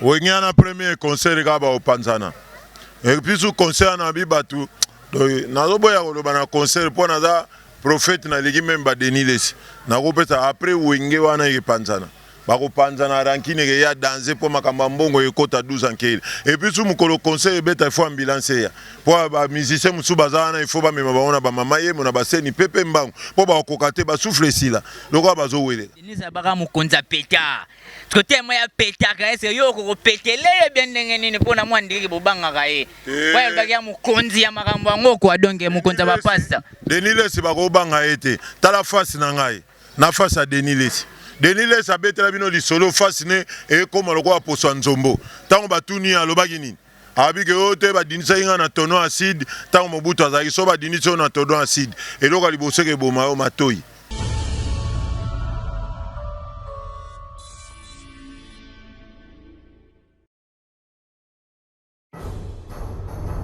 Wenge wana premier concert kaka bakopanzana episu concert wana abi batu nazoboya koloba na concert mpo naza prophète naleki meme ba Denis Lessi nakopesa après wenge wana ekepanzana bakopanzana rankine ekeya danze mpo makambo ya mbongo ekota 12 ankeli episu mokolo concert ebeta ifo ambulance eya mpo ba musicien mosusu baza wana ifo bamema bango na bamama yemo na baseni pepe mbangu mpo bakokoka te basufle esila lokola bazoweleka Denise abaka mokonzi ya petard. Parce que tellement ya petaka est-ce yo ko petele ye bien ndenge nini pona mwa ndiki bobangaka ye. Ba yalobaki ya mokonzi ya makambo yango quoi donc mokonzi ya ba pasta. Denis Lessi bako banga ye te. Tala face na ngai na face ya Denis Lessi. Denis Lessi abetela bino lisolo face ne ekoma lokola poso ya nzombo. Tango batuni ye alobaki nini? Alobi que oyo te badindisaki nga na tonon acide tango Mobutu azalaki soki badindisi yo na todon acide eloko ya liboso eke boma yo matoyi.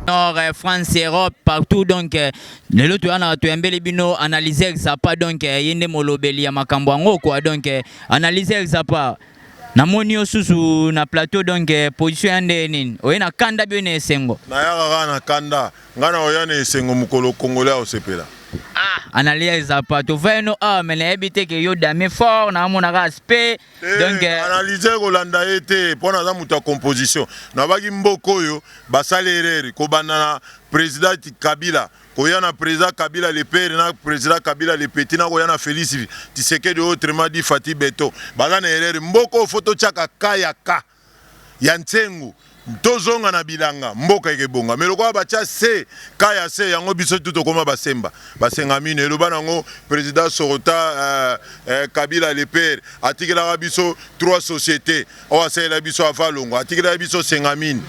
nord euh, france europe partout donc euh, lelo toya na toyambeli bino analyse exapa donc euh, ye nde molobeli ya makambo yango quoi donc analyse exapa namoni yo susu na plateau donc eh, position ya ndeye nini oye na kanda bio na esengo nayaka kaka na kanda ngai nakoya na esengo mokolo kongole akosepela ah analia eza pa tova yeno awa ah, me nayebi te ke yo damien fort naamonaka aspect eh, donc eh, analyse kolanda ye te mpo naza moto ya composition nabaki mboka oyo basali erreur kobanda na président kabila Koya na president kabila le pere na president kabila le petit na koya na felix tisekedi oyo autrement dit fathi beton baza na erreur mboka oyo faut totiaka cas ya cas ya nsengu tozonga na bilanga mboka ekebonga mais lokola batia se cas ya se yango biso tu tokoma basemba basenga mino eloba nango president sorota euh, euh, kabila le pere atikelaka biso trois société oyo asalela biso avalongo atikelaka biso senga mine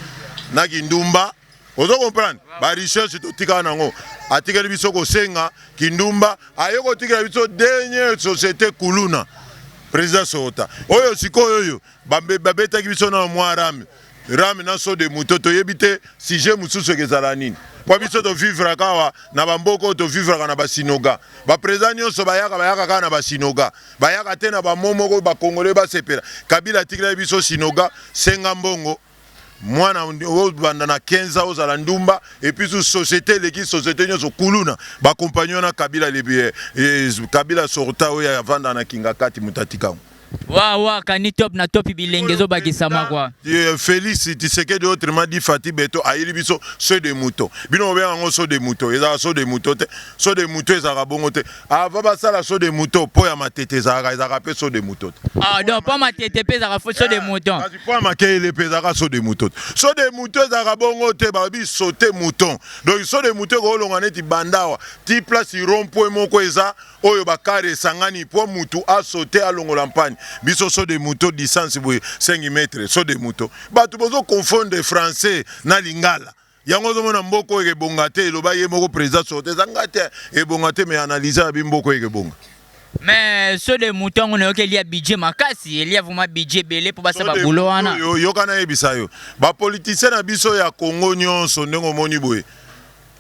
na kindumba ozo comprendre ba recherche totikala nango atikeli biso kosenga kindumba aye kotikela biso dernier société kuluna président sokota oyo sikoyo oyo babetaki biso na mwa rame rame na so de moto toyebi te sujet mosusu ekezala nini mpo biso tovivraka awa na bamboka oyo tovivraka na basinoga baprésident nyonso bayaka bayaka kaka na basinoga bayaka te na bamo moko bakongole basepela kabila atikilaki biso sinoga senga mbongo Mwana o banda na 15 ans ozala ndumba et puis sous société eleki société nyoso kuluna ba compagnon na Kabila le eh, eh, Kabila sorta oyo ya vanda na Kingakati mutatika ngo. Wa wa kani top na top bilenge zo bakisama kwa. Eh, Felix Tshisekedi autrement dit Fatih Beto ayili biso so de moto. Bino obenga ngo so de moto, ezala so de moto te. So de moto ezala bongo te. Avant basala saut de mouton, po ya matete ezalaka, ezalaka pe saut de mouton. Ah, donc po matete pe ezalaka saut de eh, mouton. Kasi po ya makele pe ezalaka saut de mouton. Saut de mouton ezalaka bongo te, ba bi sauter mouton. Donc saut de mouton ko longa neti bandawa, ti place rond-point moko eza oyo ba car esangani po mutu a sauter a longola mpani. Biso saut de mouton distance boye 5 mètres, saut de mouton. Bato bozo confondre français na lingala. Yango ozomona mboka oyo ekebonga te eloba ye moko president sorte eza nga te ebonga te mais analyse ya bi mboka oyo ekebonga. Mais so de mouton yango nayoki elia budget makasi elia vraiment budget ebele mpo basala babulo wana yo yoka nayebisa yo bapolitisien na biso ya congo nyonso ndenge omoni boye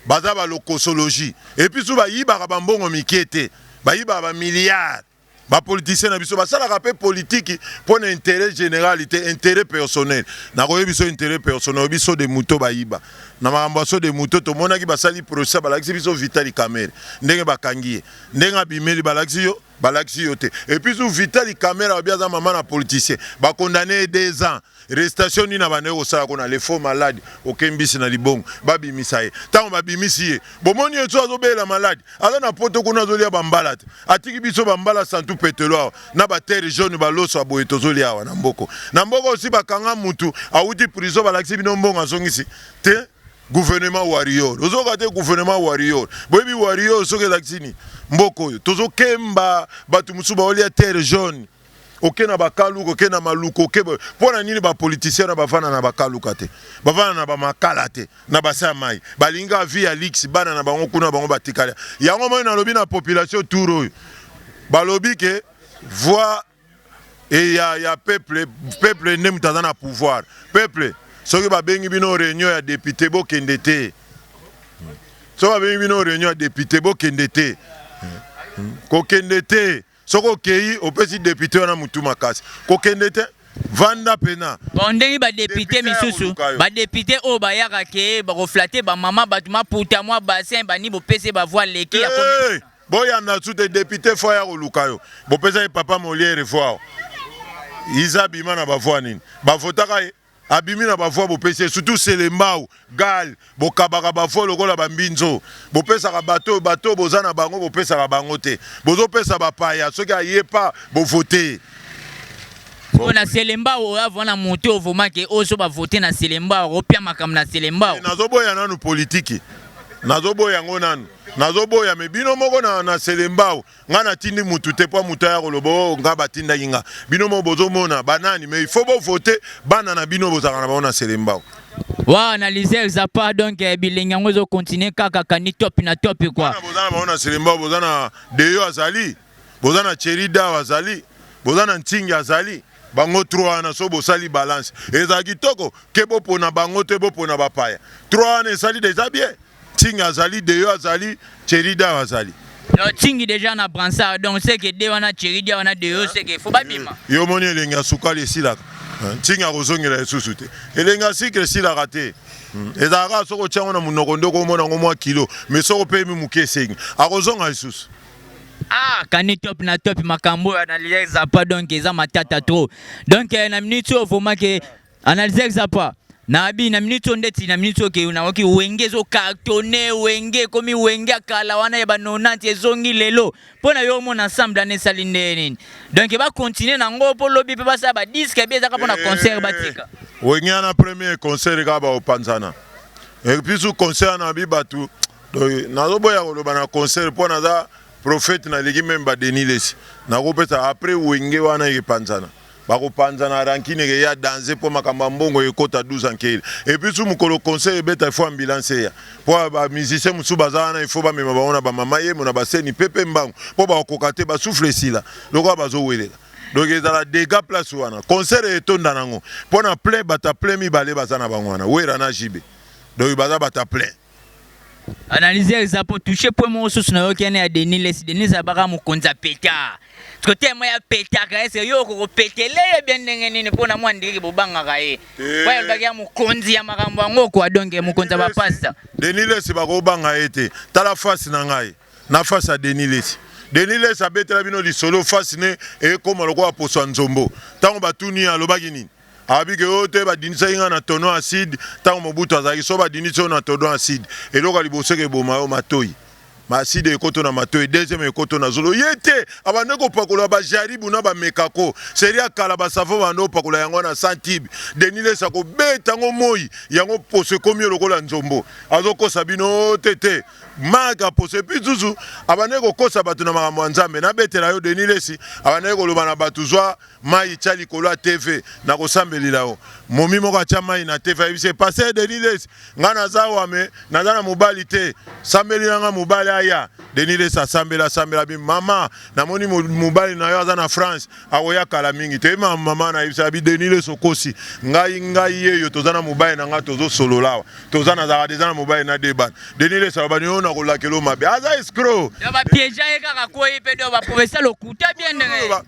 baza balokosologie epuis su bayibaka bambongo mike te bayibaka bamilliard Ba politiciens na biso basalaka pe politiki pona interet general te interet personnel nakoyebiso interet personnel oyebi saut de mouton bayiba na makambo ya saut de mouton tomonaki basali procès balakisi biso vitali kamere ndenge bakangi ye ndenge abimeli balakisi yo balakisi yo te epuis vitali kamere alobi aza mama na politicien ba condamne ye deux ans Restation nini abandaki kosala kuna le faux malade oke mbisi na libongo babimisa ye tango babimisi ye bomoni ye so azobelela malade aza na poto kuna azolia bambala te atiki biso bambala santu petelo awa na ba terre jaune baloso ya boye tozolia awa na mboko na mboko osi bakanga mutu awuti prison balakisi bino mbongo azongisi te gouvernement warrior ozoka te gouvernement warrior boyebi warrior soki elakisi ni mboko oyo tozokemba bato mosusu baolia terre jaune Oke na ba kaluka oke na maluka oke boye pona nini ba politiciens na bavanda na ba kaluka te bavanda na ba makala te na bassin ya mayi balingi kaka vie ya luxe bana na bango kuna bango batikali yango omoni nalobi na population tour oyo balobi ke voix e ya ya peuple peuple nde moto aza na pouvoir peuple soki babengi bino reunion ya depute bokende te soki babengi bino reunion ya depute bokende te kokende te Soki okeyi opesi depute wana mutu makasi kokende te vanda pena bon ndenge ba depute misusu ba depute oyo bayaka ke bakoflate ba mama bato maputa mwa bassin bani bopese ba voix leki ya hey, eh, boyanda su te depute fo aya koluka yo bopesa ye papa moliere voix iza bima na ba voix nini bavotaka ye Abimi na ba voix bopesi ye surtout selembao, gall, bokabaka ba voix lokola ba mbinzo bopesaka bato oyo bato oyo boza na bango bopesaka bango te bozo pesa ba paya soki aye pas bo vote ye. Pona selembao oyo avua na moto oyo vraiment ke ozo ba vote na selembao ako pia makambo na selembao. Nazo boya nanu politiki nazo boya yango nanu nazo boya mais bino moko na selembao Nga na tindi mutu te po mutu aya koloba oh nga ba tindaki nga. Bino moko bozo mona ba nani mais il faut bo voter bana na bino bozalaka na bango na selembao. Wa analyse eza pas donc eh, bilengi yango ezo continuer kaka kani top na top quoi. Bana boza na bango na selembao boza na Deyo azali boza na Thierry Dao azali boza na Ntingi azali bango 3 wana so bosali balance ezala kitoko ke bopona bango te bopona bapaya 3 wana esali deja bien Tsingy azali, Deyo azali, Thierry Dawa azali. Non, Tsingy deja na bransard, donc c'est que de wana Thierry Dawa na Deyo c'est que faut babima. Eh, yo moni elengi ya sukali esilaka. Eh, Tsingy akozongela lisusu te. Elengi ya sucre esilaka te. Hmm, ezalaka soki otya yango na monoko nde okomona yango mwa kilo, mais soki opemi moke esengi akozonga lisusu. Ah, kani top na top makambo oyo analyse apa donc eza matata trop. Donc eh, na minute oyo vraiment ke Analyse eza pa na abi na minute oyo ndeti na minute oke na oki wenge zo cartonne wenge komi wenge akala wana ya ba 90 ezongi lelo mpo na yo omona ensemble ane esali nde nini donc ba continuer na ngo mpo lobi mpe basala ba disque bi ezaka mpo na concert eh, batika wenge ana premier concert kaka baopanzana episu concert na bi bato nazoboya koloba na concert mpo naza prophète naleki meme ba denis lesi nakopesa après wenge wana epanzana Bakopanzana rancune ekeya danze po makambo ya mbongo ekota 12 ans nkele et puis su mukolo concert ebeta il faut ambulance eya po ba musiciens mususu baza wana il faut bamema bango na ba mama yemo na ba seni pepe mbangu po bakokoka te ba souffle esila lokola bazowelela donc ezala degat place wana concert etonda nango po na plein batu ya plein mibale baza na bango wana werra na JB donc baza batu ya plein. Analyse ya eza po toucher point moko susu na yoki ya Denis Lessi. Denis abaka mokonzi ya peta. Parce que temo ya peta ka ese yo ko petele ye bien ndenge nini po na mwa ndiki bobanga ka ye. Ba yalba ya mokonzi ya makambo yango ko adonge mokonzi ya bapasta. Denis Lessi ba ko banga ye te. Tala face na ngai. Na face ya Denis Lessi. Denis Lessi abetela bino lisolo face ne ekoma lokola poso ya nzombo. Tango batuni ye alobaki nini? Alobi que oyo te badindisaki nga na tonneau acide tango Mobutu azalaki. Soki badindisi yo na tonneau acide, eloko ya liboso eke boma yo matoyi. Ma acide ekoto na matoyi, deuxième ekoto na zolo. Ye te, abandaki kopakola ba jaribu na ba mekako. Serie ya kala ba savon babandaki kopakola yango wana sans tube. Denis Lessi akobeta yango moyi, yango poso ekomi yo lokola nzombo. Azokosa bino oyo te te marque ya poso. Et puis susu abandaki kokosa batu na makambo ya Nzambe. Nabetela yo Denis Lessi abandaki koloba na batu zwa Mayi tya likolo ya TV na kosambelila yo. Momi moko atya mayi na TV ayebisi ye Pasteur Denis Lessi nga naza awa mais naza na mobali te sambelila nga mobali aya. Denis Lessi asambeli asambeli abi mama namoni mobali na yo aza na France akoya kala mingi te. Ma mama na yebisa abi Denis Lessi okosi ngai ngai yeyo toza na mobali na nga tozo solola awa toza na zaka deja na mobali na deba. Denis Lessi aloba ni yo na kolakelo mabe aza escroc. Ya ba piège ye kaka ko ye pe do ba professeur lokuta bien ndenge.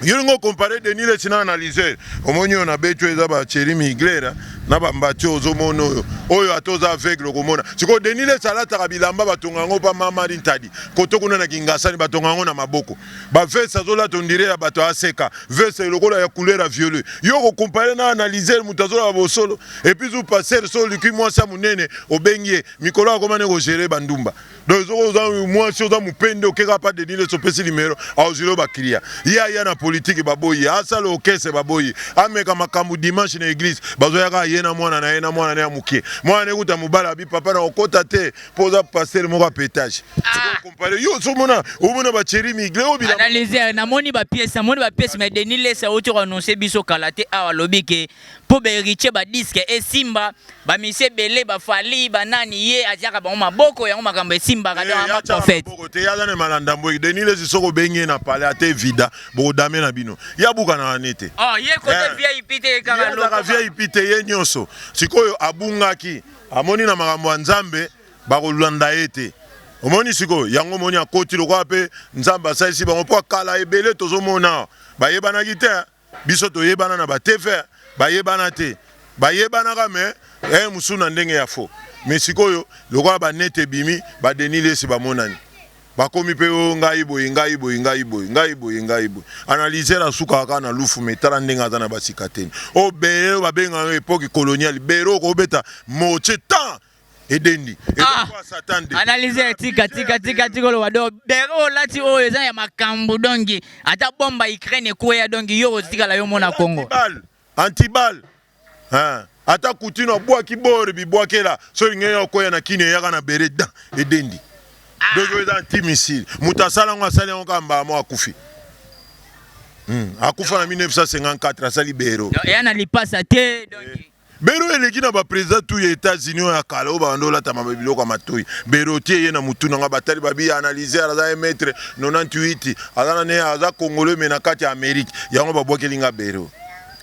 Yo lingo compare Denis Lessi na analyser. Omoni yo na betu eza ba Thierry Migler na ba mbati ozo mono oyo. Oyo ata oza aveugle okomona. Siko Denis Lessi alataka bilamba batonga yango pa mama Rintadi. Koto kuna na Kingasani batonga yango na maboko. Ba veste azo lata on dirait ya bato ya ACK. Veste lokola ya couleur ya violet. Yo ko compare na analyser moto azo loba bosolo. Et puis zu pasteur so olikui mwasi ya munene obengi ye. Mikolo akoma nde ko gerer ba ndumba. donc soki oza mwasi oza mopende okeka pa denis leso opesi limero aozwilo baklia ye aya na politike baboyi asala okese baboyi ameka makambo dimanche na eglise bazoyaka ye na mwana na ye na mwana na ya moke mwana na ekuta mobala abi papa na kokota te mpo oza pastere moko ya petage ah. kompare yo somona omona bacheri migle oyo bilanalyse namoni bapiese namoni bapiese mais denis lesa oti koannonce biso kala te awa alobi ke Po ba heritier ba disque esimba ba musiciens ebele ba fally ba nani ye atiaka bango maboko yango makambo esimbaka donc aza prophète. Maboko te ye aza ne malanda mbweki denis lessi soki obengi ye na palais ata evida boko dame na bino ye abukanaka ne te oh ye kote vip te ye kaka lokola ye azalaka vip te ye nioso sikoyo abungaki amoni na makambo ya nzambe bako landa ye te omoni sikoyo yango omoni akoti lokola pe nzambe asalisi bango po kala ebele tozo mona awa ba yebanaki te hein. Biso toyebana na ba tevin bayebana te bayebanaka mais heure mosusu na ndenge ya faux mais sikoyo lokola ba net ebimi ba Denis lessi bamonani bakomi pe oh ngai boye ngai boye ngai boye ngai boye ngai boye analyser asukaka kaka na lufu mais tala ndenge aza na ba sikateni oyo bere oyo babengaka yango epoque coloniale bere oyo kobeta mortier tan edendi ezokoa ah! satan de analyse ya tika tika tika tika oloba do bere olati oyo eza ya makambo dongi ata bomba ukraine ekweya dongi yo otikala yo mona kongo antibal ata kutino abwaki bore bibwakela soki lingi yo okoya na kini eyaka na bere dan edendi ah! donki oyo eza antimisile moto asala yango asali yango kaka mbala moko akufi hmm, akufa na 1954 asali bero eya na lipasa te donki Bero eleki na ba president tout ya etats unis oyo ya kala oyo babanda olata ma biloko ya matoyi bero otie ye na mutu nanga batali babi analyser aza un maitre 98 aza na ne aza congolais mais na kati ya amerique yango ba bwakeli nga bero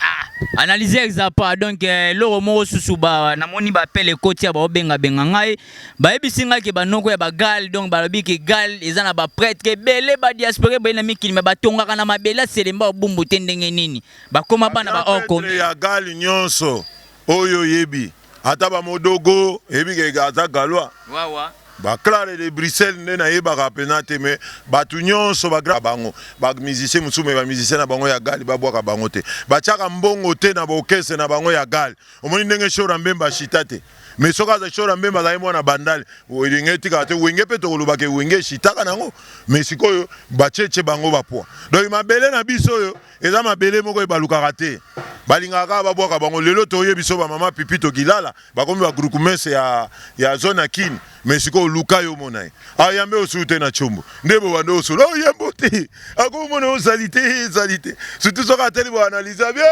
Ah, analyse eza pas donc eh, eloko moko susu ba namoni ba appel ekoti ya bao benga benga ngai bayebisi ngai ke banoko ya bagal donc balobi ke gal eza na ba prêtre ke bele ba diaspora boye na mikili me batongaka na mabele aselemba obumbu te ndenge nini Bakoma bana ba or koni. Ya gal nionso oyo oyebi ata ba modogo eyebi ke aza galois wawa ba clare de Bruxelles nde nayebaka pena te mais batu nionso ba grand bango ba musicien mususu mais ba musicien na bango ya gal babwaka bango te batiaka mbongo te na ba orchestre na bango ya gal omoni ndenge shora mbemba ashita te mais soki aza shora mbemba azali mwana bandal wenge etikaka te wenge pe tokoloba ke wenge eshitaka nango mais sikoyo bacheche bango ba poids donc mabele na biso oyo Eza mabele moko ebalukaka te. Balingaka kaka babwaka bango. Lelo toye biso ba mama pipi tokilala bakomi ba groupements ya ya zone ya kin mais sikoyo luka yo omona ye ayambe ah, osu te na chombo nde bobanda osolo oh, yambo te akomona yo salite ye salite surtout soki ateli boanalyse abie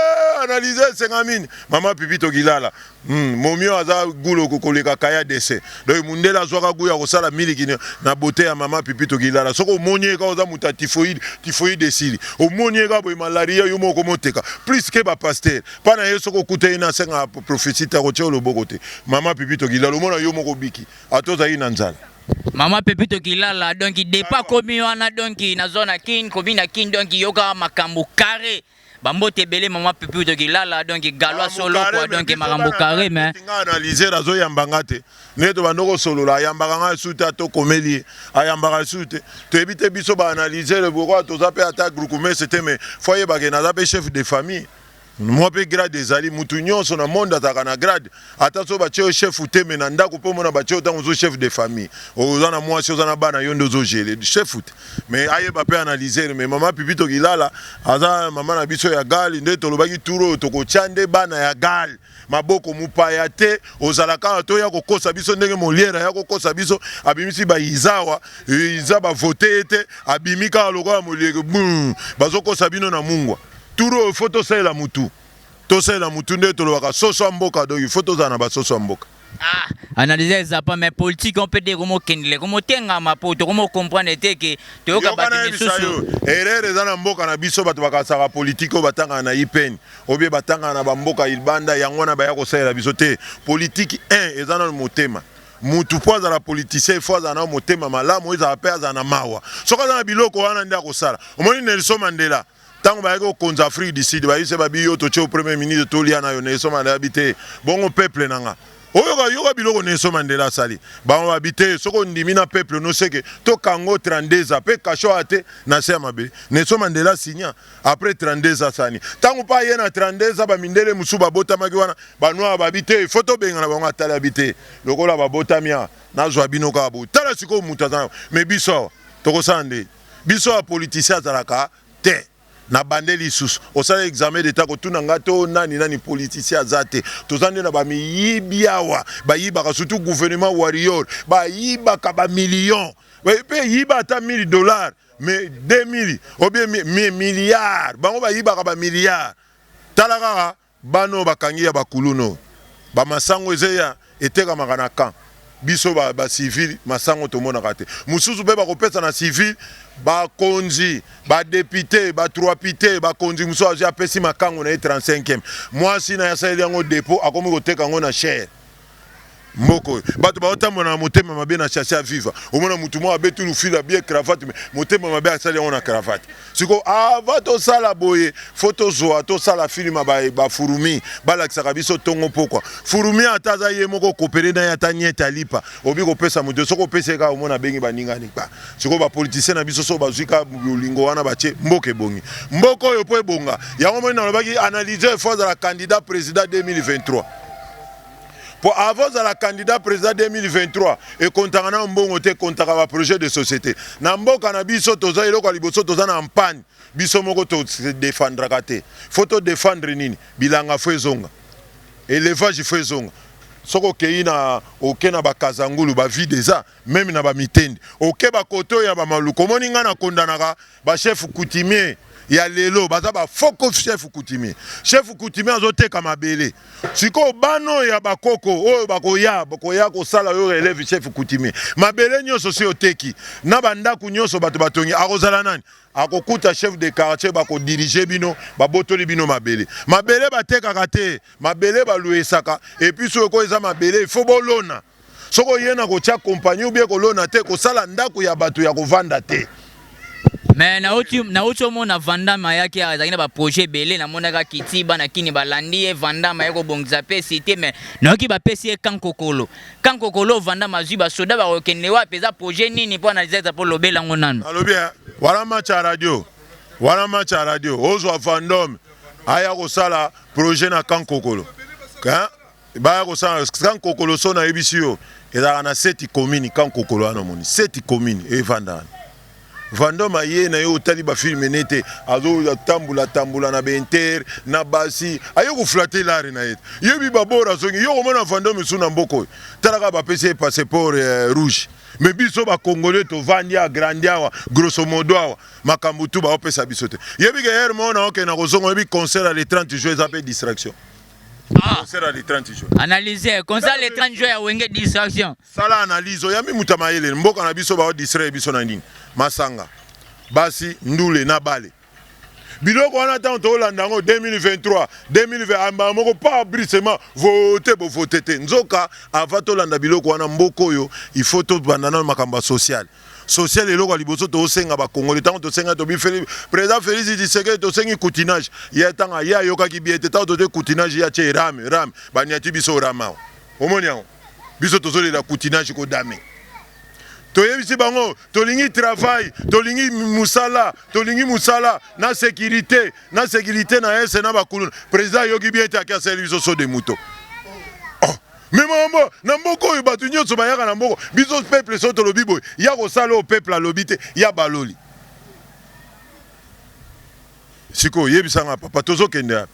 analyse esenga mini mama pipi tokilala Hum momio aza gout loko koleka kaya dese donc mundele azuaka gout ya kosala miliki na beaute ya maman pipi tokilala soki omoni ye kaka oza mutu ya typhoide typhoide esili omoni ye kaka boye malaria yo moko komoteka plus que ba pasteur pa na ye soki okuta ye na senga prophetie te akotia yo loboko te maman pipi tokilala omona yo moko obiki ata ozali na nzala. Maman Pepi Tokilala donc depart komi wana donc nazwa na kin komi na kin donc yoka makambo carre. Ba mbote ebele maman Pipiu toki lala donc galois so lokwa donc makambo carré mais nga analyser azo yamba nga te ne to bando ko solola ayambaka nga su te to komeli ayambaka su te to yebi te biso ba analyser boko toza pe ata groupe mais c'était mais foyer ba ke naza pe chef de famille moi pe grade ezali mutu nyonso na monde azalaka na grade Ata soki batie yo chef ou te mais na ndaku pe omona batie yo tango ozo chef de famille oza na mwasi oza na bana yonde ozo gele chef ou te mais ayeba pe analyser mais maman pipi tokilala aza maman na biso ya gal nde tolobaki tour oyo tokotia nde bana ya gal maboko mupaya te ozala kaka to ya kokosa biso ndenge moliere ya kokosa biso abimisi ba izawa iza ba vote ye te abimi kaka lokola moliere bazokosa bino na mungwa tour oyo faut tosalela mutu Tosali na mutu nde tolobaka soso ya mboka donc il faut tozala na ba soso ya mboka. Ah, analyse eza pas mais politique on peut dire comme kendele comme tengama po to comme comprendre te que to yoka ba misusu. Erreur eza na mboka na biso bato bakasaka politique batanga na IPN obie batanga na ba mboka ilbanda yango wana baya kosalela biso te politique 1 eza na motema mutu mpo azala politicien ifo azala na motema malamu ezala mpe azala na mawa soki azala na biloko wana nde akosala omoni nelson mandela Tango bayaki kokonza Afrique du Sud bayebisi ye babi yo totie yo premier ministre tolia nayo Nelson Mandela abi te bongo peuple na nga oyoka yoka biloko Nelson Mandela asali bango babi te soki ondimi na peuple no seke to kanga yo 32 ans pe kasho awa te na se ya mabele Nelson Mandela signa après 32 ans asani tango pe aye na 32 ans ba mindele mosusu babotamaki wana ba noir babi te il faut tobengana bango atali abi te lokola babotami awa nazua bino kaka boye tala sikoyo mutu aza na mais biso awa tokosala nde biso ba politicien azalaka te na bande lisusu osala examen d'etat kotuna nga to nani nani politicien aza te toza nde na ba miyibi awa bayibaka surtout gouvernement warrior bayibaka ba million pe yiba ata 1000 dollars mais 2000 obie milliard bango bayibaka ba milliard tala kaka Bana oyo bakangi ya ba kuluna oyo ba masangu eza eya etekamaka na camp biso ba ba civil masangu tomonaka te mususu pe bakopesa na civil ba konzi ba depute ba truapite ba konzi mususu azwi apesi makangu na ye 35 mwasi na ye asaleli yango depot akomi koteka yango na chaire Mboka oyo batu bao tambola na motema mabe na chasse à viva omona mutu moko abeti lufila abie cravate me motema mabe asali yango na cravate siko ava tosala boye fo tozwa tosala filima ba, ba furumi balakisaka biso tongo pokwa furumi ata aza ye moko kopere na ye ata niete alipa obi kopesa moto soki opesi ye kaka omona abengi baninga nikpa siko bapolitisien na biso so bazwi kaka bolingo wana batie mboka ebongi mboka oyo mpo ebonga yango moni nalobaki analyse fo azala candidat président 2023 Po avant ozala candidat president 2023 ekontaka nao mbongo te ekontaka ba projet de societe na mboka na biso toza eloko ya liboso toza na ampagne biso moko to se defendraka te faut to defendre nini bilanga faut ezonga elevage faut ezonga soki okeyi na oke na ba kazangulu ba vide eza meme na ba mitende okeba kote oyo ya ba maluku omoni nga na kondanaka ba chef coutumier ya lelo baza ba foko chef coutumier chef coutumier azoteka mabele sikoyo bana oyo ya bakoko oyo bakoya bakoya kosala yo releve chef coutumier mabele nyonso si oteki na bandako nyonso bato batongi akozala nani akokuta chef de quartier bakodirige bino babotoli bino mabele mabele batekaka te mabele baluesaka epuis oyo ko eza mabele ifo bolona soki oye na kotya kompani obie kolona te kosala ndako ya bato ya kovanda te me nauti omona vandame ayaki azalaki na baprojet ebele namonaka kiti bana kini balandi ye vandame aye kobongisa mpe site me nayoki bapesi ye kankokolo kankokolo vandame azwi basoda bakokende wapi eza projet nini mpo analizeza mpo lobela yango nanu alobi eh, wana match ya radio wana match ya radio ozwa vandome aya kosala projet na kankokolo Baya kosala kan kokolo son ayebisi yo ezalaka na seti commune kan kokolo wana omoni seti commune evanda wana Vandom aye na ye otali ba film ne te azo tambula tambula na benter na basi aye ko flatter lare na ye yo bi babora zongi yo komona Vandom esu na mboko oyo talaka ba pesi passeport eh, rouge me biso ba congolais to vandi a grandi awa grosso modo awa makambo tu ba opesa biso te yebi ke hermona oke na kozonga yebi concert ya le 30 juin eza pe distraction Ah. Concert le 30 juin. Analyser, concert le 30 juin ya Wenge distraction. Sala analyse, oyami muta mayele, mboka na biso ba distraire biso na nini? Masanga, basi, ndule na bale. Biloko wana tango tolanda yango 2023, 2020 amba moko pa brisement vote bo vote te. Nzoka avant tolanda biloko wana mboko oyo il faut tobanda na makambo social. social eloko ya liboso tosenga bakongole ntango tosenga tobi président félix tshisekedi tosengi coutinage ye ntango ye ayokaki bie te ntango tozwi coutinage ye atie rame rame baniati biso rame awa omoni yango biso tozolela coutinage kodame toyebisi bango tolingi travail tolingi mosala tolingi mosala na sécurité na sécurité na ese na bakuluna président ayoki bie te ake asali biso so de moto Mais maman, na mboka oyo batu nyoso bayaka na mboko, biso peuple so tolobi boye, ya kosala oyo peuple alobi te, ya baloli. Sikoyo yebisa nga papa tozokende wapi?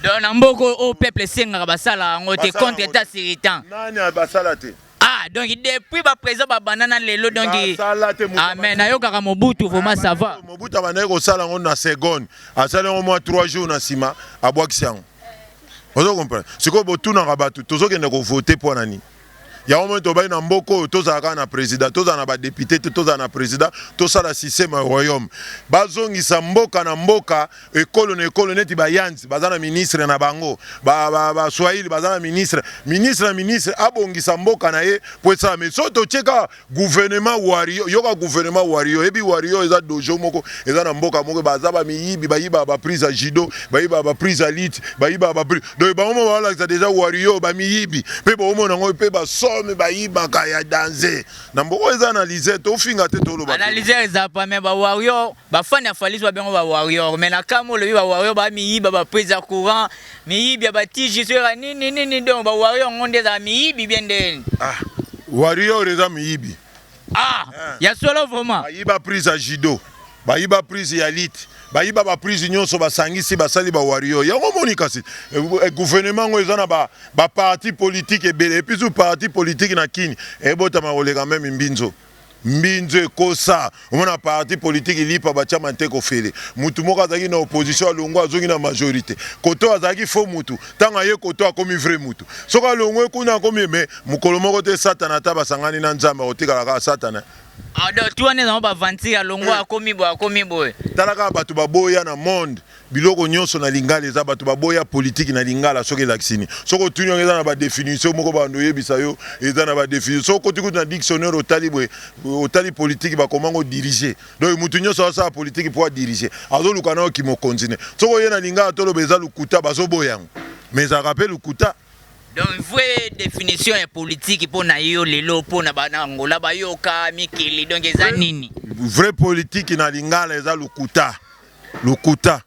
Donc na mboka oyo peuple esengaka basala yango te contre etat sur etat. Nani basala te? Ah donc depuis ba président ba banana lelo donc amen nayokaka Mobutu vraiment ça va. Mobutu abandaki kosala yango na seconde, asali yango mwa 3 jours na nsima abwakisi yango. Ozo comprendre? Sikoyo botunaka batu tozokende ko voter mpo na nini? Yango omoni tobaki na mboka oyo tozala kaka na president, tozala na ba depute te, tozala na president, tosala systeme ya royaume. Bazongisa mboka na mboka, ekolo na ekolo neti ba Yanzi baza na ministre na bango, ba, ba, ba Swahili baza na ministre, ministre na ministre abongisa mboka na ye mpo esala. Mais soki totie kaka Gouvernement warrior yoka gouvernement warrior ebi warrior eza dojo moko eza na mboka moko baza ba miyibi bayiba ba prise ya judo bayiba ba prise ya lutte bayiba ba prise donc bango moko balakisa deja warrior ba miyibi pe bomona yango pe ba somme bayibaka ya danze na mboka eza analyse tofinga te toloba te analyse eza pa mais ba warrior Ba fan ya Fally ba bengo ba warrior mais na kama olobi ba warrior ba miyiba ba prise ya courant miyibi ya ba tiji soyaka nini nini donc ba warrior ngo nde ezala miyibi bien nde ah warrior eza miyibi ah eh. ya solo vraiment ayiba prise ya judo bayiba prise ya lite bayiba baprise nyonso basangisi basali bawario yango omoni kasi eh, eh, gouvernement yango eza na baparti ba politike ebele epuis parti politike na kini ebotama koleka meme mbinzo Mbinzo ekosa omona parti politique lipa batia manteka ofele mutu moko azalaki na opposition alongwe azongi na majorite kote oyo azalaki faux mutu tango aye kote oyo akomi vrai mutu soki alongwe kuna akomi mais mukolo moko te satana ata basangani na nzambe akotikala kaka satana Ah donc tout wana eza ngo ba aventure alongwe akomi boye akomi boye. Tala kaka batu baboya na monde. Biloko nionso na lingala eza batu ba boya politique na lingala soki elakisi nini? Soki otuni yango eza na ba definition moko ba banda oyebisa yo eza na ba definition soki okoti kutu na dictionnaire otali boye otali politique ba koma ngo dirige donc mutu nionso azo sala politique po a dirige azo luka nayo ki mokonzi ne soki oye na lingala toloba eza lukuta bazo boya yango mais ezalaka pe lukuta Donc vraie definition ya politique po na yo lelo po na ba na Angola ba yoka mikili donc eza nini? Vraie politique na lingala eza lukuta. Lokuta.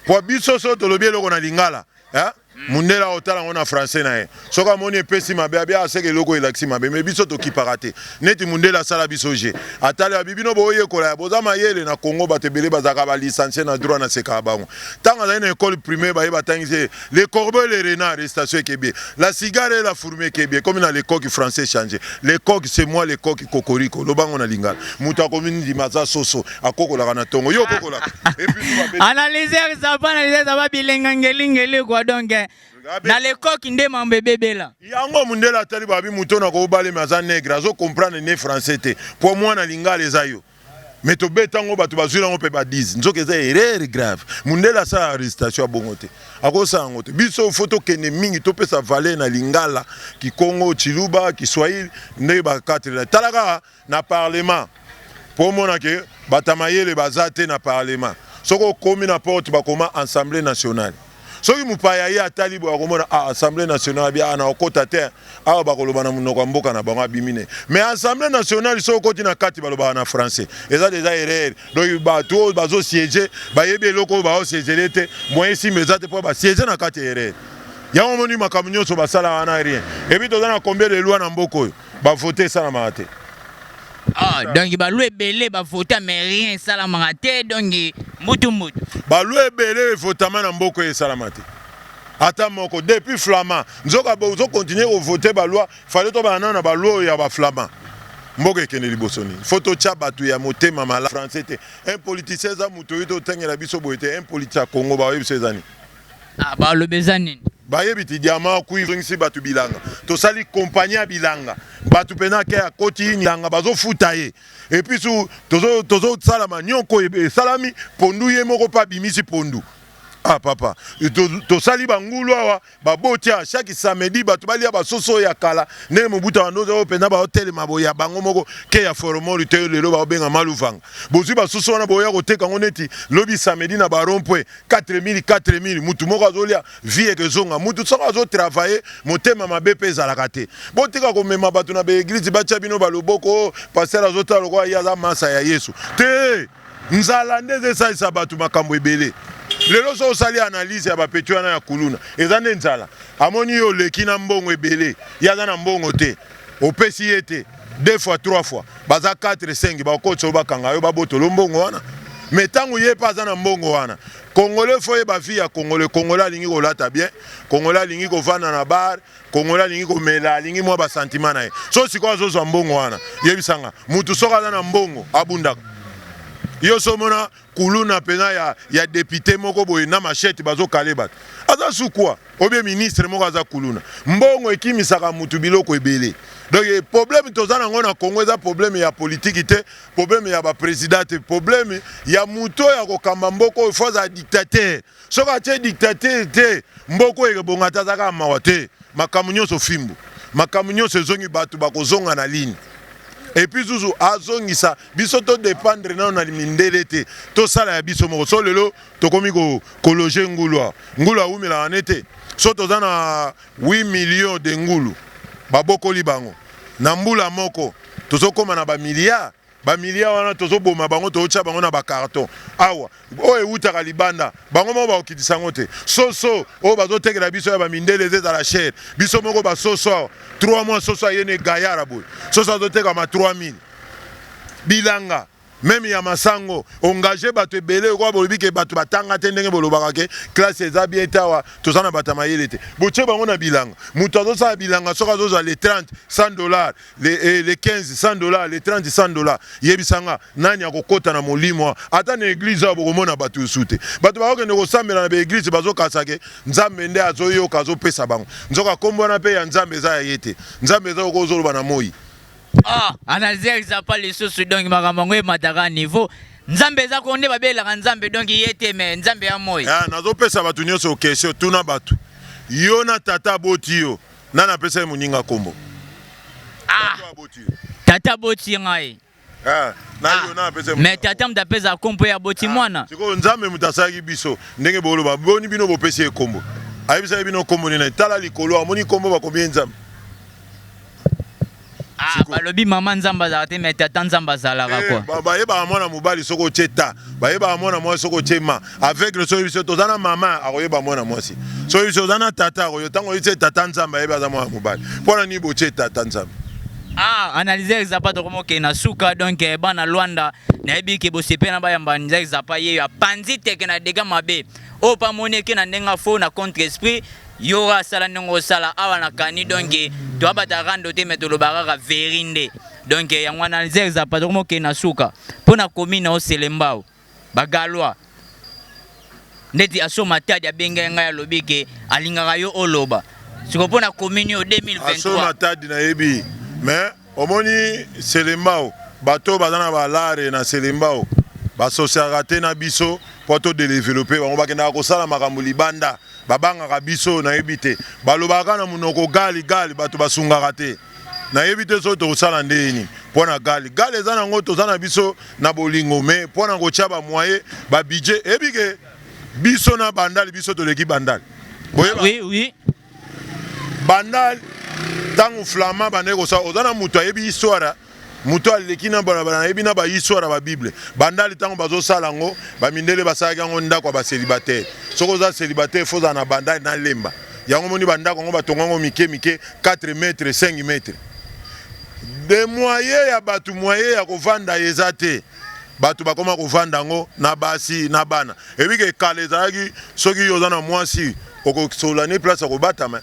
Po biso so tolobi eloko na lingala, eh mundele akotala yango na français na ye. Soki amoni epesi mabe, abi ah seke eloko oyo elakisi mabe. Mais biso tokipaka te. Neti mundele asala biso jeu. Atali abi bino boyekola ya boza mayele na Congo batu ebele bazalaka ba licencie na droit nasekaka bango. Tango azali na ecole primaire baye batangisi ye le corbeau et le renard recitation ekebiye. La cigare et la fourmi ekebiye ekomi na le coq français change. Le coq c'est moi le coq cocorico. Loba yango na lingala. Mutu akomi ndima aza soso. akokolaka na tongo yo okokolaka analyser ça pas analyser ça va bilenga ngeli ngeli quoi donc eh, na lekoki nde mambo ebebela yango mundele atali babi moto na kobale me aza negre azo comprendre ne français te mpo mwana lingala eza yo me tobeta yango bato bazwi yango mpe badise nzoka eza erreur grave mundele asala arrestation ya bongo te akosala yango te biso fo tokende mingi topesa valeur na lingala kikongo chiluba kiswahili ndenge bakatelela tala kaka na parlement po omona que batu ya mayele baza te na parlement soki okomi na porte bakoma ensemble nationale soki mupaya ye atali boye akomona ah ensemble nationale bia ah, nakokota te awa bakoloba na munoko ya mboka na bango abimi ne mais ensemble nationale soki okoti na kati balobaka na français eza deja erreur donc batu oyo bazo siege bayebi eloko oyo bao siegele te moyen simba eza te po ba siege na kati erreur yango omoni makambo nyonso basala wana rien ebi toza na combien de loi na mboka oyo Ba vote esalamaka te. Ah, donc ba loi ebele ba vota mais rien esalamaka te donc mbutu mbutu. Ba loi ebele evotama na mboko esalama te. Ata moko depuis flama nzoka bo zo continuer ko voter ba loi fallait to bana na ba loi ya ba flama. Mboka ekende liboso nini? Faut totya bato ya motema malamu français te. Un politicien eza moto oyo totengela biso boye te, un politicien ya Congo baoyebisa eza nini? Ah, ba lobe eza nini? bayebi ti diamant kui zongisi bato bilanga tosali kompani ya bilanga bato mpena ke akoti bilanga bazofuta ye epuis tozosala manioko esalami pondu ye moko mpe abimisi pondu Ah papa, tosali bangulu awa baboti awa chaque samedi bato balia basoso ya kala ndenge mobuta bandoza oyo mpena baotelema boye ya bango moko ke ya foromoli te lelo baobenga maluvanga bozwi basoso wana boya koteka yango neti lobi samedi na barompwe 4000 4000 mutu moko azolia vie ekezonga mutu soko azo travailler motema mabe pe ezalaka te botika komema bato na baeglise batia bino baloboko oh, pasteur azotala lokola ye aza masa ya yesu te nzala nde ezesalisa bato makambo ebele lelo so osali analyse ya bapeti wana ya kuluna eza nde nzala amoni yo oleki na mbongo ebele ye aza na mbongo te Opesi ye te deux fois trois fois baza 4 5 bakotisa yo bakanga yo babotolo mbongo wana me ntango ye mpe aza na mbongo wana kongole fo ye bavi ya kongole kongole alingi kolata bien kongole alingi kovanda na bar kongole alingi komela alingi mwa basantima na ye so sikoyo azozwa mbongo wana yebisanga motu soki aza na mbongo abundaka yo so omona Kuluna penza ya ya depute moko boye na machette bazo kale batu aza sous quoi ou bien ministre moko aza kuluna mbongo ekimisaka mutu biloko ebele donc eh, problème toza nango na Congo eza problème ya politique te problème ya ba président te problème ya mutu oyo akokamba mboko oyo faut aza dictateur Soki atie dictature te mboka oyo ekobonga te aza kaka mawa te makambo nionso fimbu makambo nionso ezongi batu bakozonga na lini epuis zuzu azongisa biso to dependre nano na mindele te tosala ya biso moko so lelo tokomi ko kologe ngulu awa ngulu awumelaka ne te so toza na 8 millions de ngulu babokoli bango na mbula moko tozokoma na ba milliards Ba milliards wana tozo boma bango tozo tia bango na ba carton awa oyo ewutaka libanda bango moko bako kitisa yango te soso oyo bazo tekela biso ya ba mindele eza ezala cher biso moko ba soso awa 3 mois soso aye ne gayara boye soso azo tekama 3000 bilanga meme ya masango engage bato ebele lokola bolobi ke bato batanga te ndenge bolobaka ke classe eza bien te awa toza na bato ya mayele te botie bango na bilanga moto azosala bilanga soki azozwa le 30 100 dollar Le, eh, le 15 100 dollars, le 30 100 dollars. Yebisa nga nani akokota na molimo ata na eglise awa bokomona bato yosu te. Bato bakokende kosambela na ba eglise bazokasa ke Nzambe nde azoyoka azopesa bango. Nzoka kombo wana pe ya Nzambe eza ya ye te. Nzambe eza okoki ozoloba na moyi. Ah, Anazia Isapa lisusu donc makambo yango emataka niveau. Nzambe eza ko nde babelelaka Nzambe donc ye te mais Nzambe ya moyi. Ah, nazopesa bato nyonso kesio tuna bato. Yo na tata aboti yo. Nani apesa ye moninga kombo? Ah! Tata aboti ye. Tata aboti ngai. Ah, na ah, yo na apesa mais tata moto apesa kombo ya boti ah, mwana. Sikoyo Nzambe moto asalaki biso ndenge boloba boni bino bopesi ye kombo. Ayebisaki bino kombo nini? Tala likolo amoni kombo bakomi ye Nzambe. Ah, Siko- balobi mama nzambe azalaka te mais tata nzambe azalaka Eh, kwa ba- bayebaka mwana mobali soki otye ta bayebaka mwana mwasi soki otye ma aveugle soki biso toza na mama akoyeba mwana mwasi soki biso oza na tata akoyo ntango oyitye tata nzambe ayebi aza mwana mobali mpo na nini botye tata nzambe ah analyse ya zapa tokoma okende na suka donc eh, bana lwanda nayebi ke bosepela na bayamba nzaki zapa ye apanzi teke na dega mabe oyo mpe amoni eke na ndenge afo na contre esprit Yora sala ndenge osala awa na kani donc toabata rando te me toloba kaka veri nde donc yango wana zerza patoko mokei na suka mpo na komi na oselembao bagalwa ndeti aso matadi abengaki ngai alobi ke alingaka yo oloba siko mpo na komini yo 2023 aso matadi nayebi mais Omoni selembao bato oyo baza na ba lare na selembao ba sociaka te na biso po to delevelope bango bakendaka kosala makambo libanda babangaka biso nayebi te balobaka kaka na monoko gali gali bato basungaka te nayebi te soki tokosala ndenge nini po na gali gali eza na ngo toza na biso na bolingo me po na kotia ba moyen ba budget eyebi ke biso na bandal biso toleki bandal boyeba oui oui banda ntango flama bandaki kosala oza na moto ayebi histoire moto aleki na balabala nayebi na bahistoire ya babible bandali ntango bazosala yango bamindele basalaki yango ndako ya baselibataire soki oza selibataire fo ozala na bandali na lemba yango moni bandako yango batonga yango mike mike 4 mètre 5 mètre de moye ya bato moye ya kovanda eza te bato bakoma kovanda yango na basi na bana ebike kala ezalaki soki oza na mwasi Okosolola ne place ya kobatama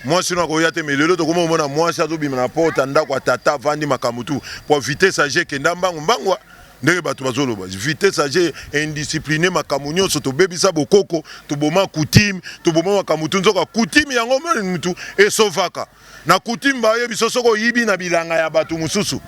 mwasi no akoya te mais lelo tokomi komona mwasi azobima na porte ya ndako ya tata avandi makambo tu mpo vitesse age ekenda mbangu mbangu ndenge bato bazoloba vitesse age indiscipline makambo nyonso tobebisa bokoko toboma coutume toboma makambo tu nzoka coutume yango mutu esovaka Na coutume ba yebi so soki oyibi na bilanga ya batu mususu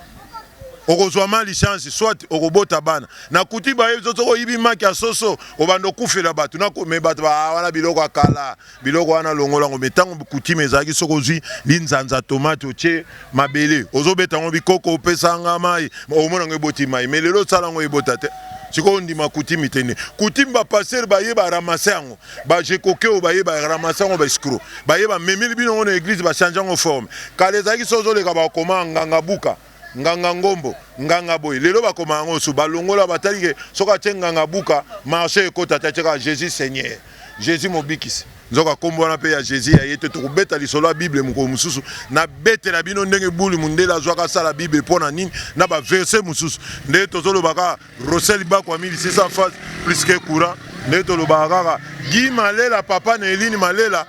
okozwa ma licence soit okobota bana. Na coutume ba yebi so soki oyibi maki ya soso obanda okufela batu na mais batu ba ah, wana biloko ya kala biloko wana longola ngo mais tango coutume ezalaki soki ozwi linzanza tomate otie mabele ozobeta ngo bikoko opesa nga mai omona ngo eboti mai mais lelo osala ngo ebota te sikoyo ondima coutume te nde coutume ba pasteur ba ye ba ramasser yango ba jekoke oyo baye ba ramasa yango ba escro baye bamemeli bino yango na eglise bachange yango forme kala ezalaki so ozoleka bakoma nganga buka nganga ngombo nganga boye lelo bakoma yango su balongola batali ke soki atie nganga buka marche ekota te atyeka jésus seigneur jésus mobikisi nzoka nkombo wana mpe ya jésus ya ye te tokobeta lisolo ya bible mokolo mosusu nabetela bino ndenge buli mondele azwaka asala bible mpo na nini na baverse mosusu nde tozolobaka Rossel Bako ami lisisa face plus que courant nde tolobaka kaka Guy Malela papa na Eline Malela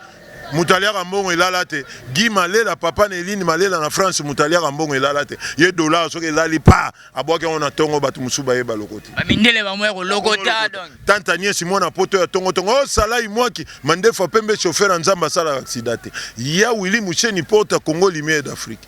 moto aliaka mbongo elala te Guy Malela papa na Eline Malela na France moto aliaka mbongo elala te ye dollar soki elali pa abwaki yango na tongo bato mosusu bayeba lokoti bamindele bango ya kolokota tanta niesi mwana poto ya tongo tongo o oh, salai mwaki mandefu apembe chauffeur ya nzambe asalaka aksida te ya wili musheni porta congo lumière d'afrique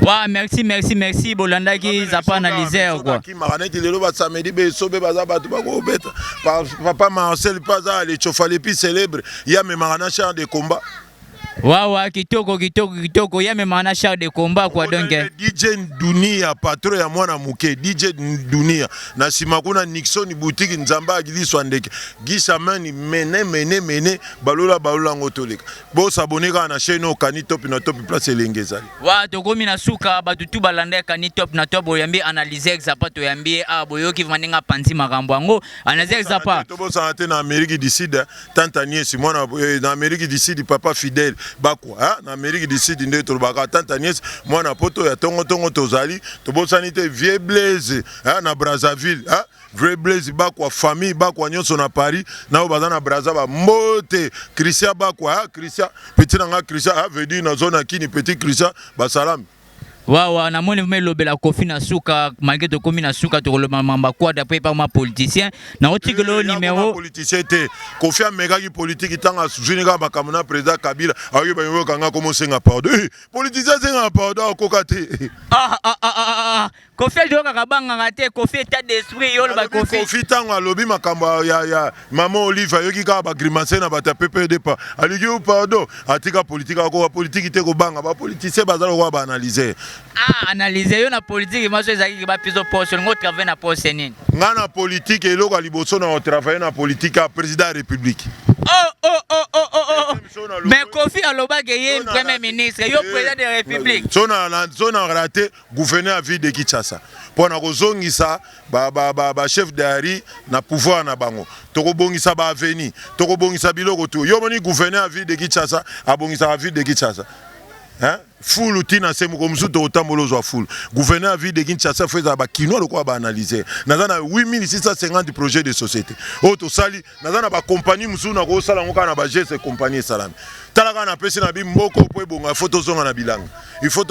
Wa merci merci merci bolandaki zapa analyser quoi. Kimaka neti lelo ba samedi be sobe baza bato bakobeta papa Marcel mpe aza alechofa le plus célèbre ye amemaka na char de combat wawa kitoko kitoko kitoko ye amemaka na char de combat quoi donc eh. dj dunia patron ya mwana moke dj dunia na nsima kuna nixon boutique nzambe agiliswa ndeke gisamani mene mene mene balola balola yango toleka Bo s'abonner kaka na chaîne oyo Kani Top na Top place elengi ezali. Wa tokomi na suka batu tu balanda Kani Top na Top oyambi analyser Zappa toyambi ye ah boyoki vraiment ndenge apanzi makambo yango analyser Zappa. Tobosana te na Amerique du Sud tanta nièce mwana eh, na Amerique du Sud papa fidèle bakwa hein? na Amerique du Sud nde tolobaka tanta nièce mwana poto ya tongo tongo tozali tobosani te vieux Blaise hein? na Brazzaville hein? Vrai Blaise bakwa famille bakwa nionso na Paris na oyo baza na Brazza ba mbote Christian bakwa ah Christian petit na nga Christian ah veut dire na zone ya Kini petit Christian basalami Wawa, na moni vraiment elobela kofi na suka malgré tokomi na suka tokoloba mamba quad après pas ma politicien na otikela yo numéro politicien te kofi amekaki politique ntango azwini kaka makambo na président kabila ayoki bayoka nga komosenga pardon Eh, politicien asenga pardon akoka te ah ah ah ah ah, ah. Kofi azo kaka banganga te, Kofi etat d'esprit yo ba Kofi. Kofi tango alobi makambo ya ya maman Olive ayoki kaka ba grimace na bata PPD pa. Aliki yo pardon, atika politique ako ba politique te ko banga ba politiciens bazalo ko ba analyser. Ah analyser yo na politique maso ezaki ba piso poste ngo travailler na poste nini? Nga na politique eloko ya liboso na travailler na politique ya président ya république. Oh oh oh oh oh oh. Mais Kofi alobaki ye premier ministre, yo président de la république. Sona sona raté gouverneur ya ville de Kinshasa mpo na kozongisa ba, ba, ba, ba chef d'Ari na pouvoir na bango. Tokobongisa ba avenue, tokobongisa biloko tu. Yo moni gouverneur ya ville de Kinshasa abongisaka ville de Kinshasa hein? fulu ti na se mokolo mosusu tokotambola ozwa fulu gouverneur ya ville de kinshasa fo ezala bakinois lokola baanalyser naza na 8650 projet de société oyo tosali naza na bakompani mosusu nakoki sala yango kaka na bageste kompani esalami tala kaka napesi na bi mboko mpo ebonga ifo tozonga na bilanga ifo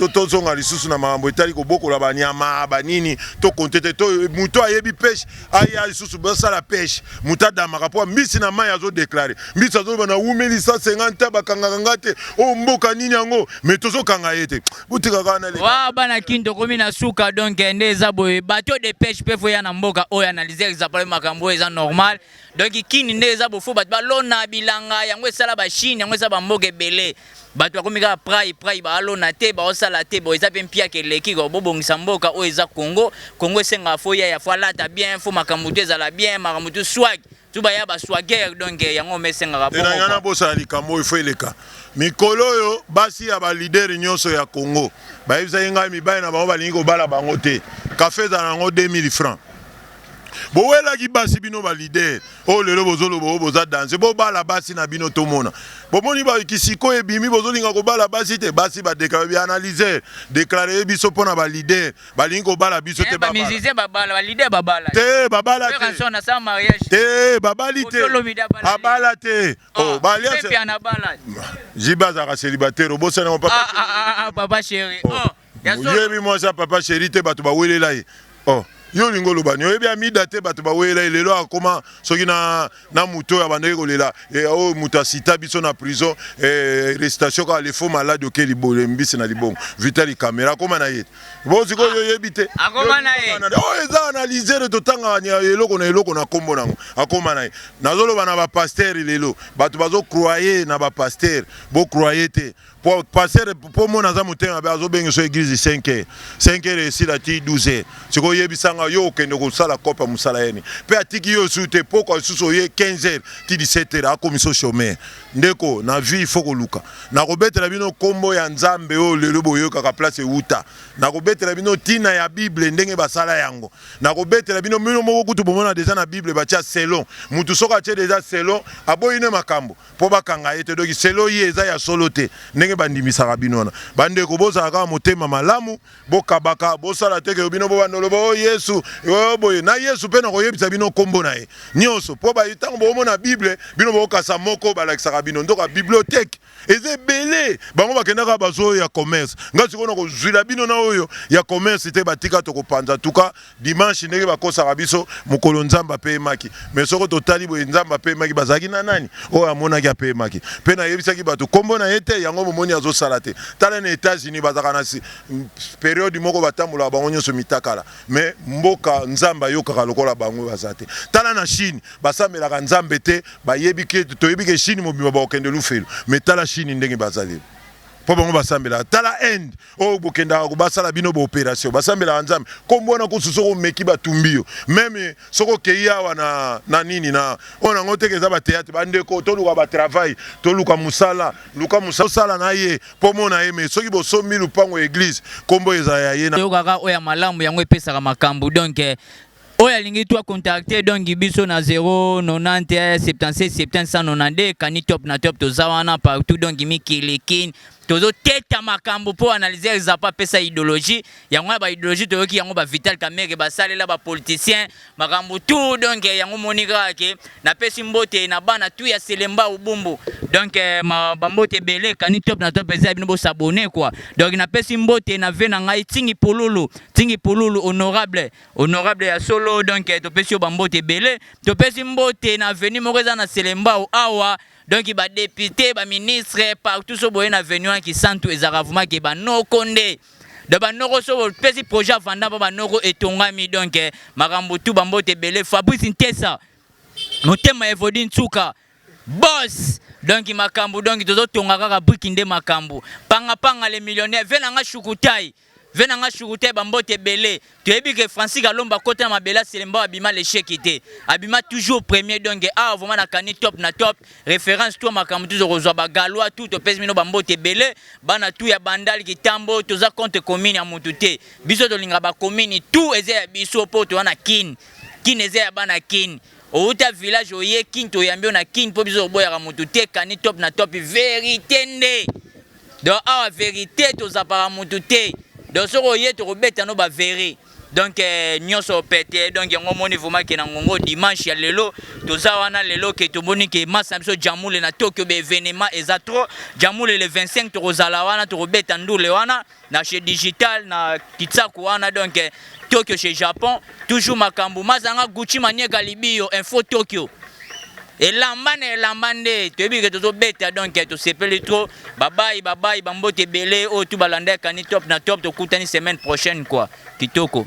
tozonga lisusu na makambo etali kobokola banyama banini tokonte te moto ayebi peshe aya lisusu basala peshe moto adamaka mpo mbisi na mai azodeklare mbisi azoloba na wumeli 150 bakangaka nga te oyo oh, mboka nini yango me tozokanga ye te botika kaka naleka wa bana kin tokomi na suka donc eh, nde eza boye bato de pêche mpe foya na mboka oyo analyse exaple makambo oyo eza normal donc kin nde eza bofo bato balona bilanga yango esala bachine yango esala bamboka ebele bato bakomi kaka prai prai baalona te baosala te bo eza mpe mpiaka eleki ko bobongisa mboka oyo eza congo congo esengaka fo yaya fo alata bien fo makambo to ezala bien makambo to swag tu ba ya ba swagger donc eh, yango me esengaka bongo elanga na bosala likambo oyo fo eleka mikolo oyo basi ya balideri nyonso ya congo bayebisaki ngai mibali na bango balingi kobala bango te kafe ezala na yango 2000 francs bowelaki basi bino balidere oyo oh, lelo bozoloba oyo oh, boza danse bobala basi na bino tomona bomoni bakisiko ebimi bozolinga kobala basi te basi badeklare bianalyser deklare ye biso mpo na balidere balingi kobala biso te ba musicien babala ba leader babala te babala te ranson na sa mariage te babali te abala te ah, oh ba alliance pe ana bala jiba za célibataire obosana mon papa ah, ah ah ah papa chéri oh, oh ya so yebi moi ça papa chéri te batu ba welela ye oh yo olingi oloba nini oyebi amida te bato bawelela ye lelo akoma soki na na moto oyo abandaki kolela eh, oyo oh, moto asita biso na prison eh, restation kaka le faux malade oke libole mbisi na libongo vitali kamera akoma na ye bosikoyo ah, oyebi te akoma na ye oyo oh, eza analysere totangaka eloko na eloko na nkombo nango akoma na ye nazoloba na bapastere lelo bato bazokroye na bapastere bokroye te Po pasteur po mona aza motema mabe azo benga so eglise 5 heures 5 heures esila ti 12 heures siko yebisa nga yo okende kosala kopa musala yeni pe atiki yo su te poko asusu oye 15 heures ti 17 heures akomi so chomeur ndeko na vie il faut koluka na kobetela bino kombo ya nzambe oyo lelo boyokaka place ewuta na kobetela bino tina ya bible ndenge basala yango na kobetela bino bino moko kutu bomona deja na bible batia selon mutu soko atie deja selon aboyi ne makambo po bakanga ye te donc selon ye eza ya solo te ndenge bandimisaka bino wana bandeko bozala kaka motema malamu bokabaka bosala te ke bino bobanda oloba o oh, yesu oh, boye na yesu mpe nakoyebisa bino nkombo na ye nyonso mpo ntango bomona bible bino bokasa moko balakisaka bino nzoka bibliothèque eza ebele bango bakendaka bazoyo ya commerce ngai sikoyo nakozwila bino na oyo ya commerce te batika tokopanza tuka Dimanche ndenge bakosaka biso mokolo Nzambe apeyemaki, mais soko totali boye Nzambe apeyemaki bazalaki na nani oyo amonaki apeyemaki pe nayebisaki bato kombo na ye te yango bomoni azosala te tala na etats unis bazalaka na periode moko batambolaka bango nyonso mitakala mais mboka Nzambe ayokaka lokola bango baza te tala na chine basambelaka Nzambe te bayebi ke toyebi ke chine mobimba bakokende lufelo mais tala chine ndenge baza lelo po bango basambelaka tala inde oyo oh, bokendaka basala bino ba operation basambelaka nzambe nkombo wana kusu soki omeki batumbi yo meme soki okei awa na, na nini na oyo nango teke eza bateatre bandeko toluka batravail toluka mosala luka mosala osala na ye mpo mona ye me soki bosombi lupango ya eglize nkombo ezala ya ye toyokaka oyo ya malamu yango epesaka makambo donk eh, oyo alingi to akontakte donki biso na 090 76 792 kani top na top toza wana partout donki mikili kin tozo teta makambo po analyser Zappa pesa idéologie yango na ba idéologie toyoki yango ba Vital Kamerhe basalela ba politiciens makambo tout donc eh, yango moni kaka ke napesi mbote na bana tout ya Selemba Ubumbu donc eh, ma ba mbote ebele kani top na top eza bino bo s'abonner quoi donc napesi mbote na vie na ngai Tingi Pululu Tingi Pululu honorable honorable ya solo donc eh, topesi yo ba mbote ebele topesi mbote na avenue moko eza na Selembao awa donc ba depute ba ministre partout so boye na venue wana kisantu ezalaka vrema ke banoko nde donc banoko so bopesi projet ya vanda mpo banoko etongami donc eh, makambo tu bambote ebele fabrice ntesa motema evodi nsuka bos donc makambo donc tozotonga kaka briki nde makambo pangapanga le millionnaire ve na nga shukutai Vieux na nga Shurutai ba mbote ebele. Toyebi que Francis Kalombo akota na mabele aselemba oyo abima l'echec te. Abima toujours premier donc awa vraiment nakani top na top. Reference to makambo tozo kozwa ba Galois tout topesi bino ba mbote ebele. Bana tout ya Bandal Kitambo toza contre commune ya mutu te. Biso tolinga ba commune tout eza ya biso po toza na Kin. Kin eza ya bana Kin. Outa village oye Kin toyambi yo na Kin po biso toboyaka mutu te. Kani top na top verite nde. donc awa verite tozapaka mutu te donc soki oye tokobeta no ba vere donc eh, nyonso pete donc yango omoni vraimen ke na ngongo dimanche ya lelo toza wana lelo ke tomoni ke masa na biso jamule na tokyo baevenement eza trop jamule le 25 tokozala wana tokobeta ndule wana na chez digital na kitsaku wana donc eh, tokyo chez japon toujours makambo mazanga gucci manieka libiyo info tokyo Elamba na elamba nde toyebi ke tozobeta donc tosepeli trop babayi babayi bambote ebele oyo tu balanda ekani top na top tokutani semaine prochaine quoi kitoko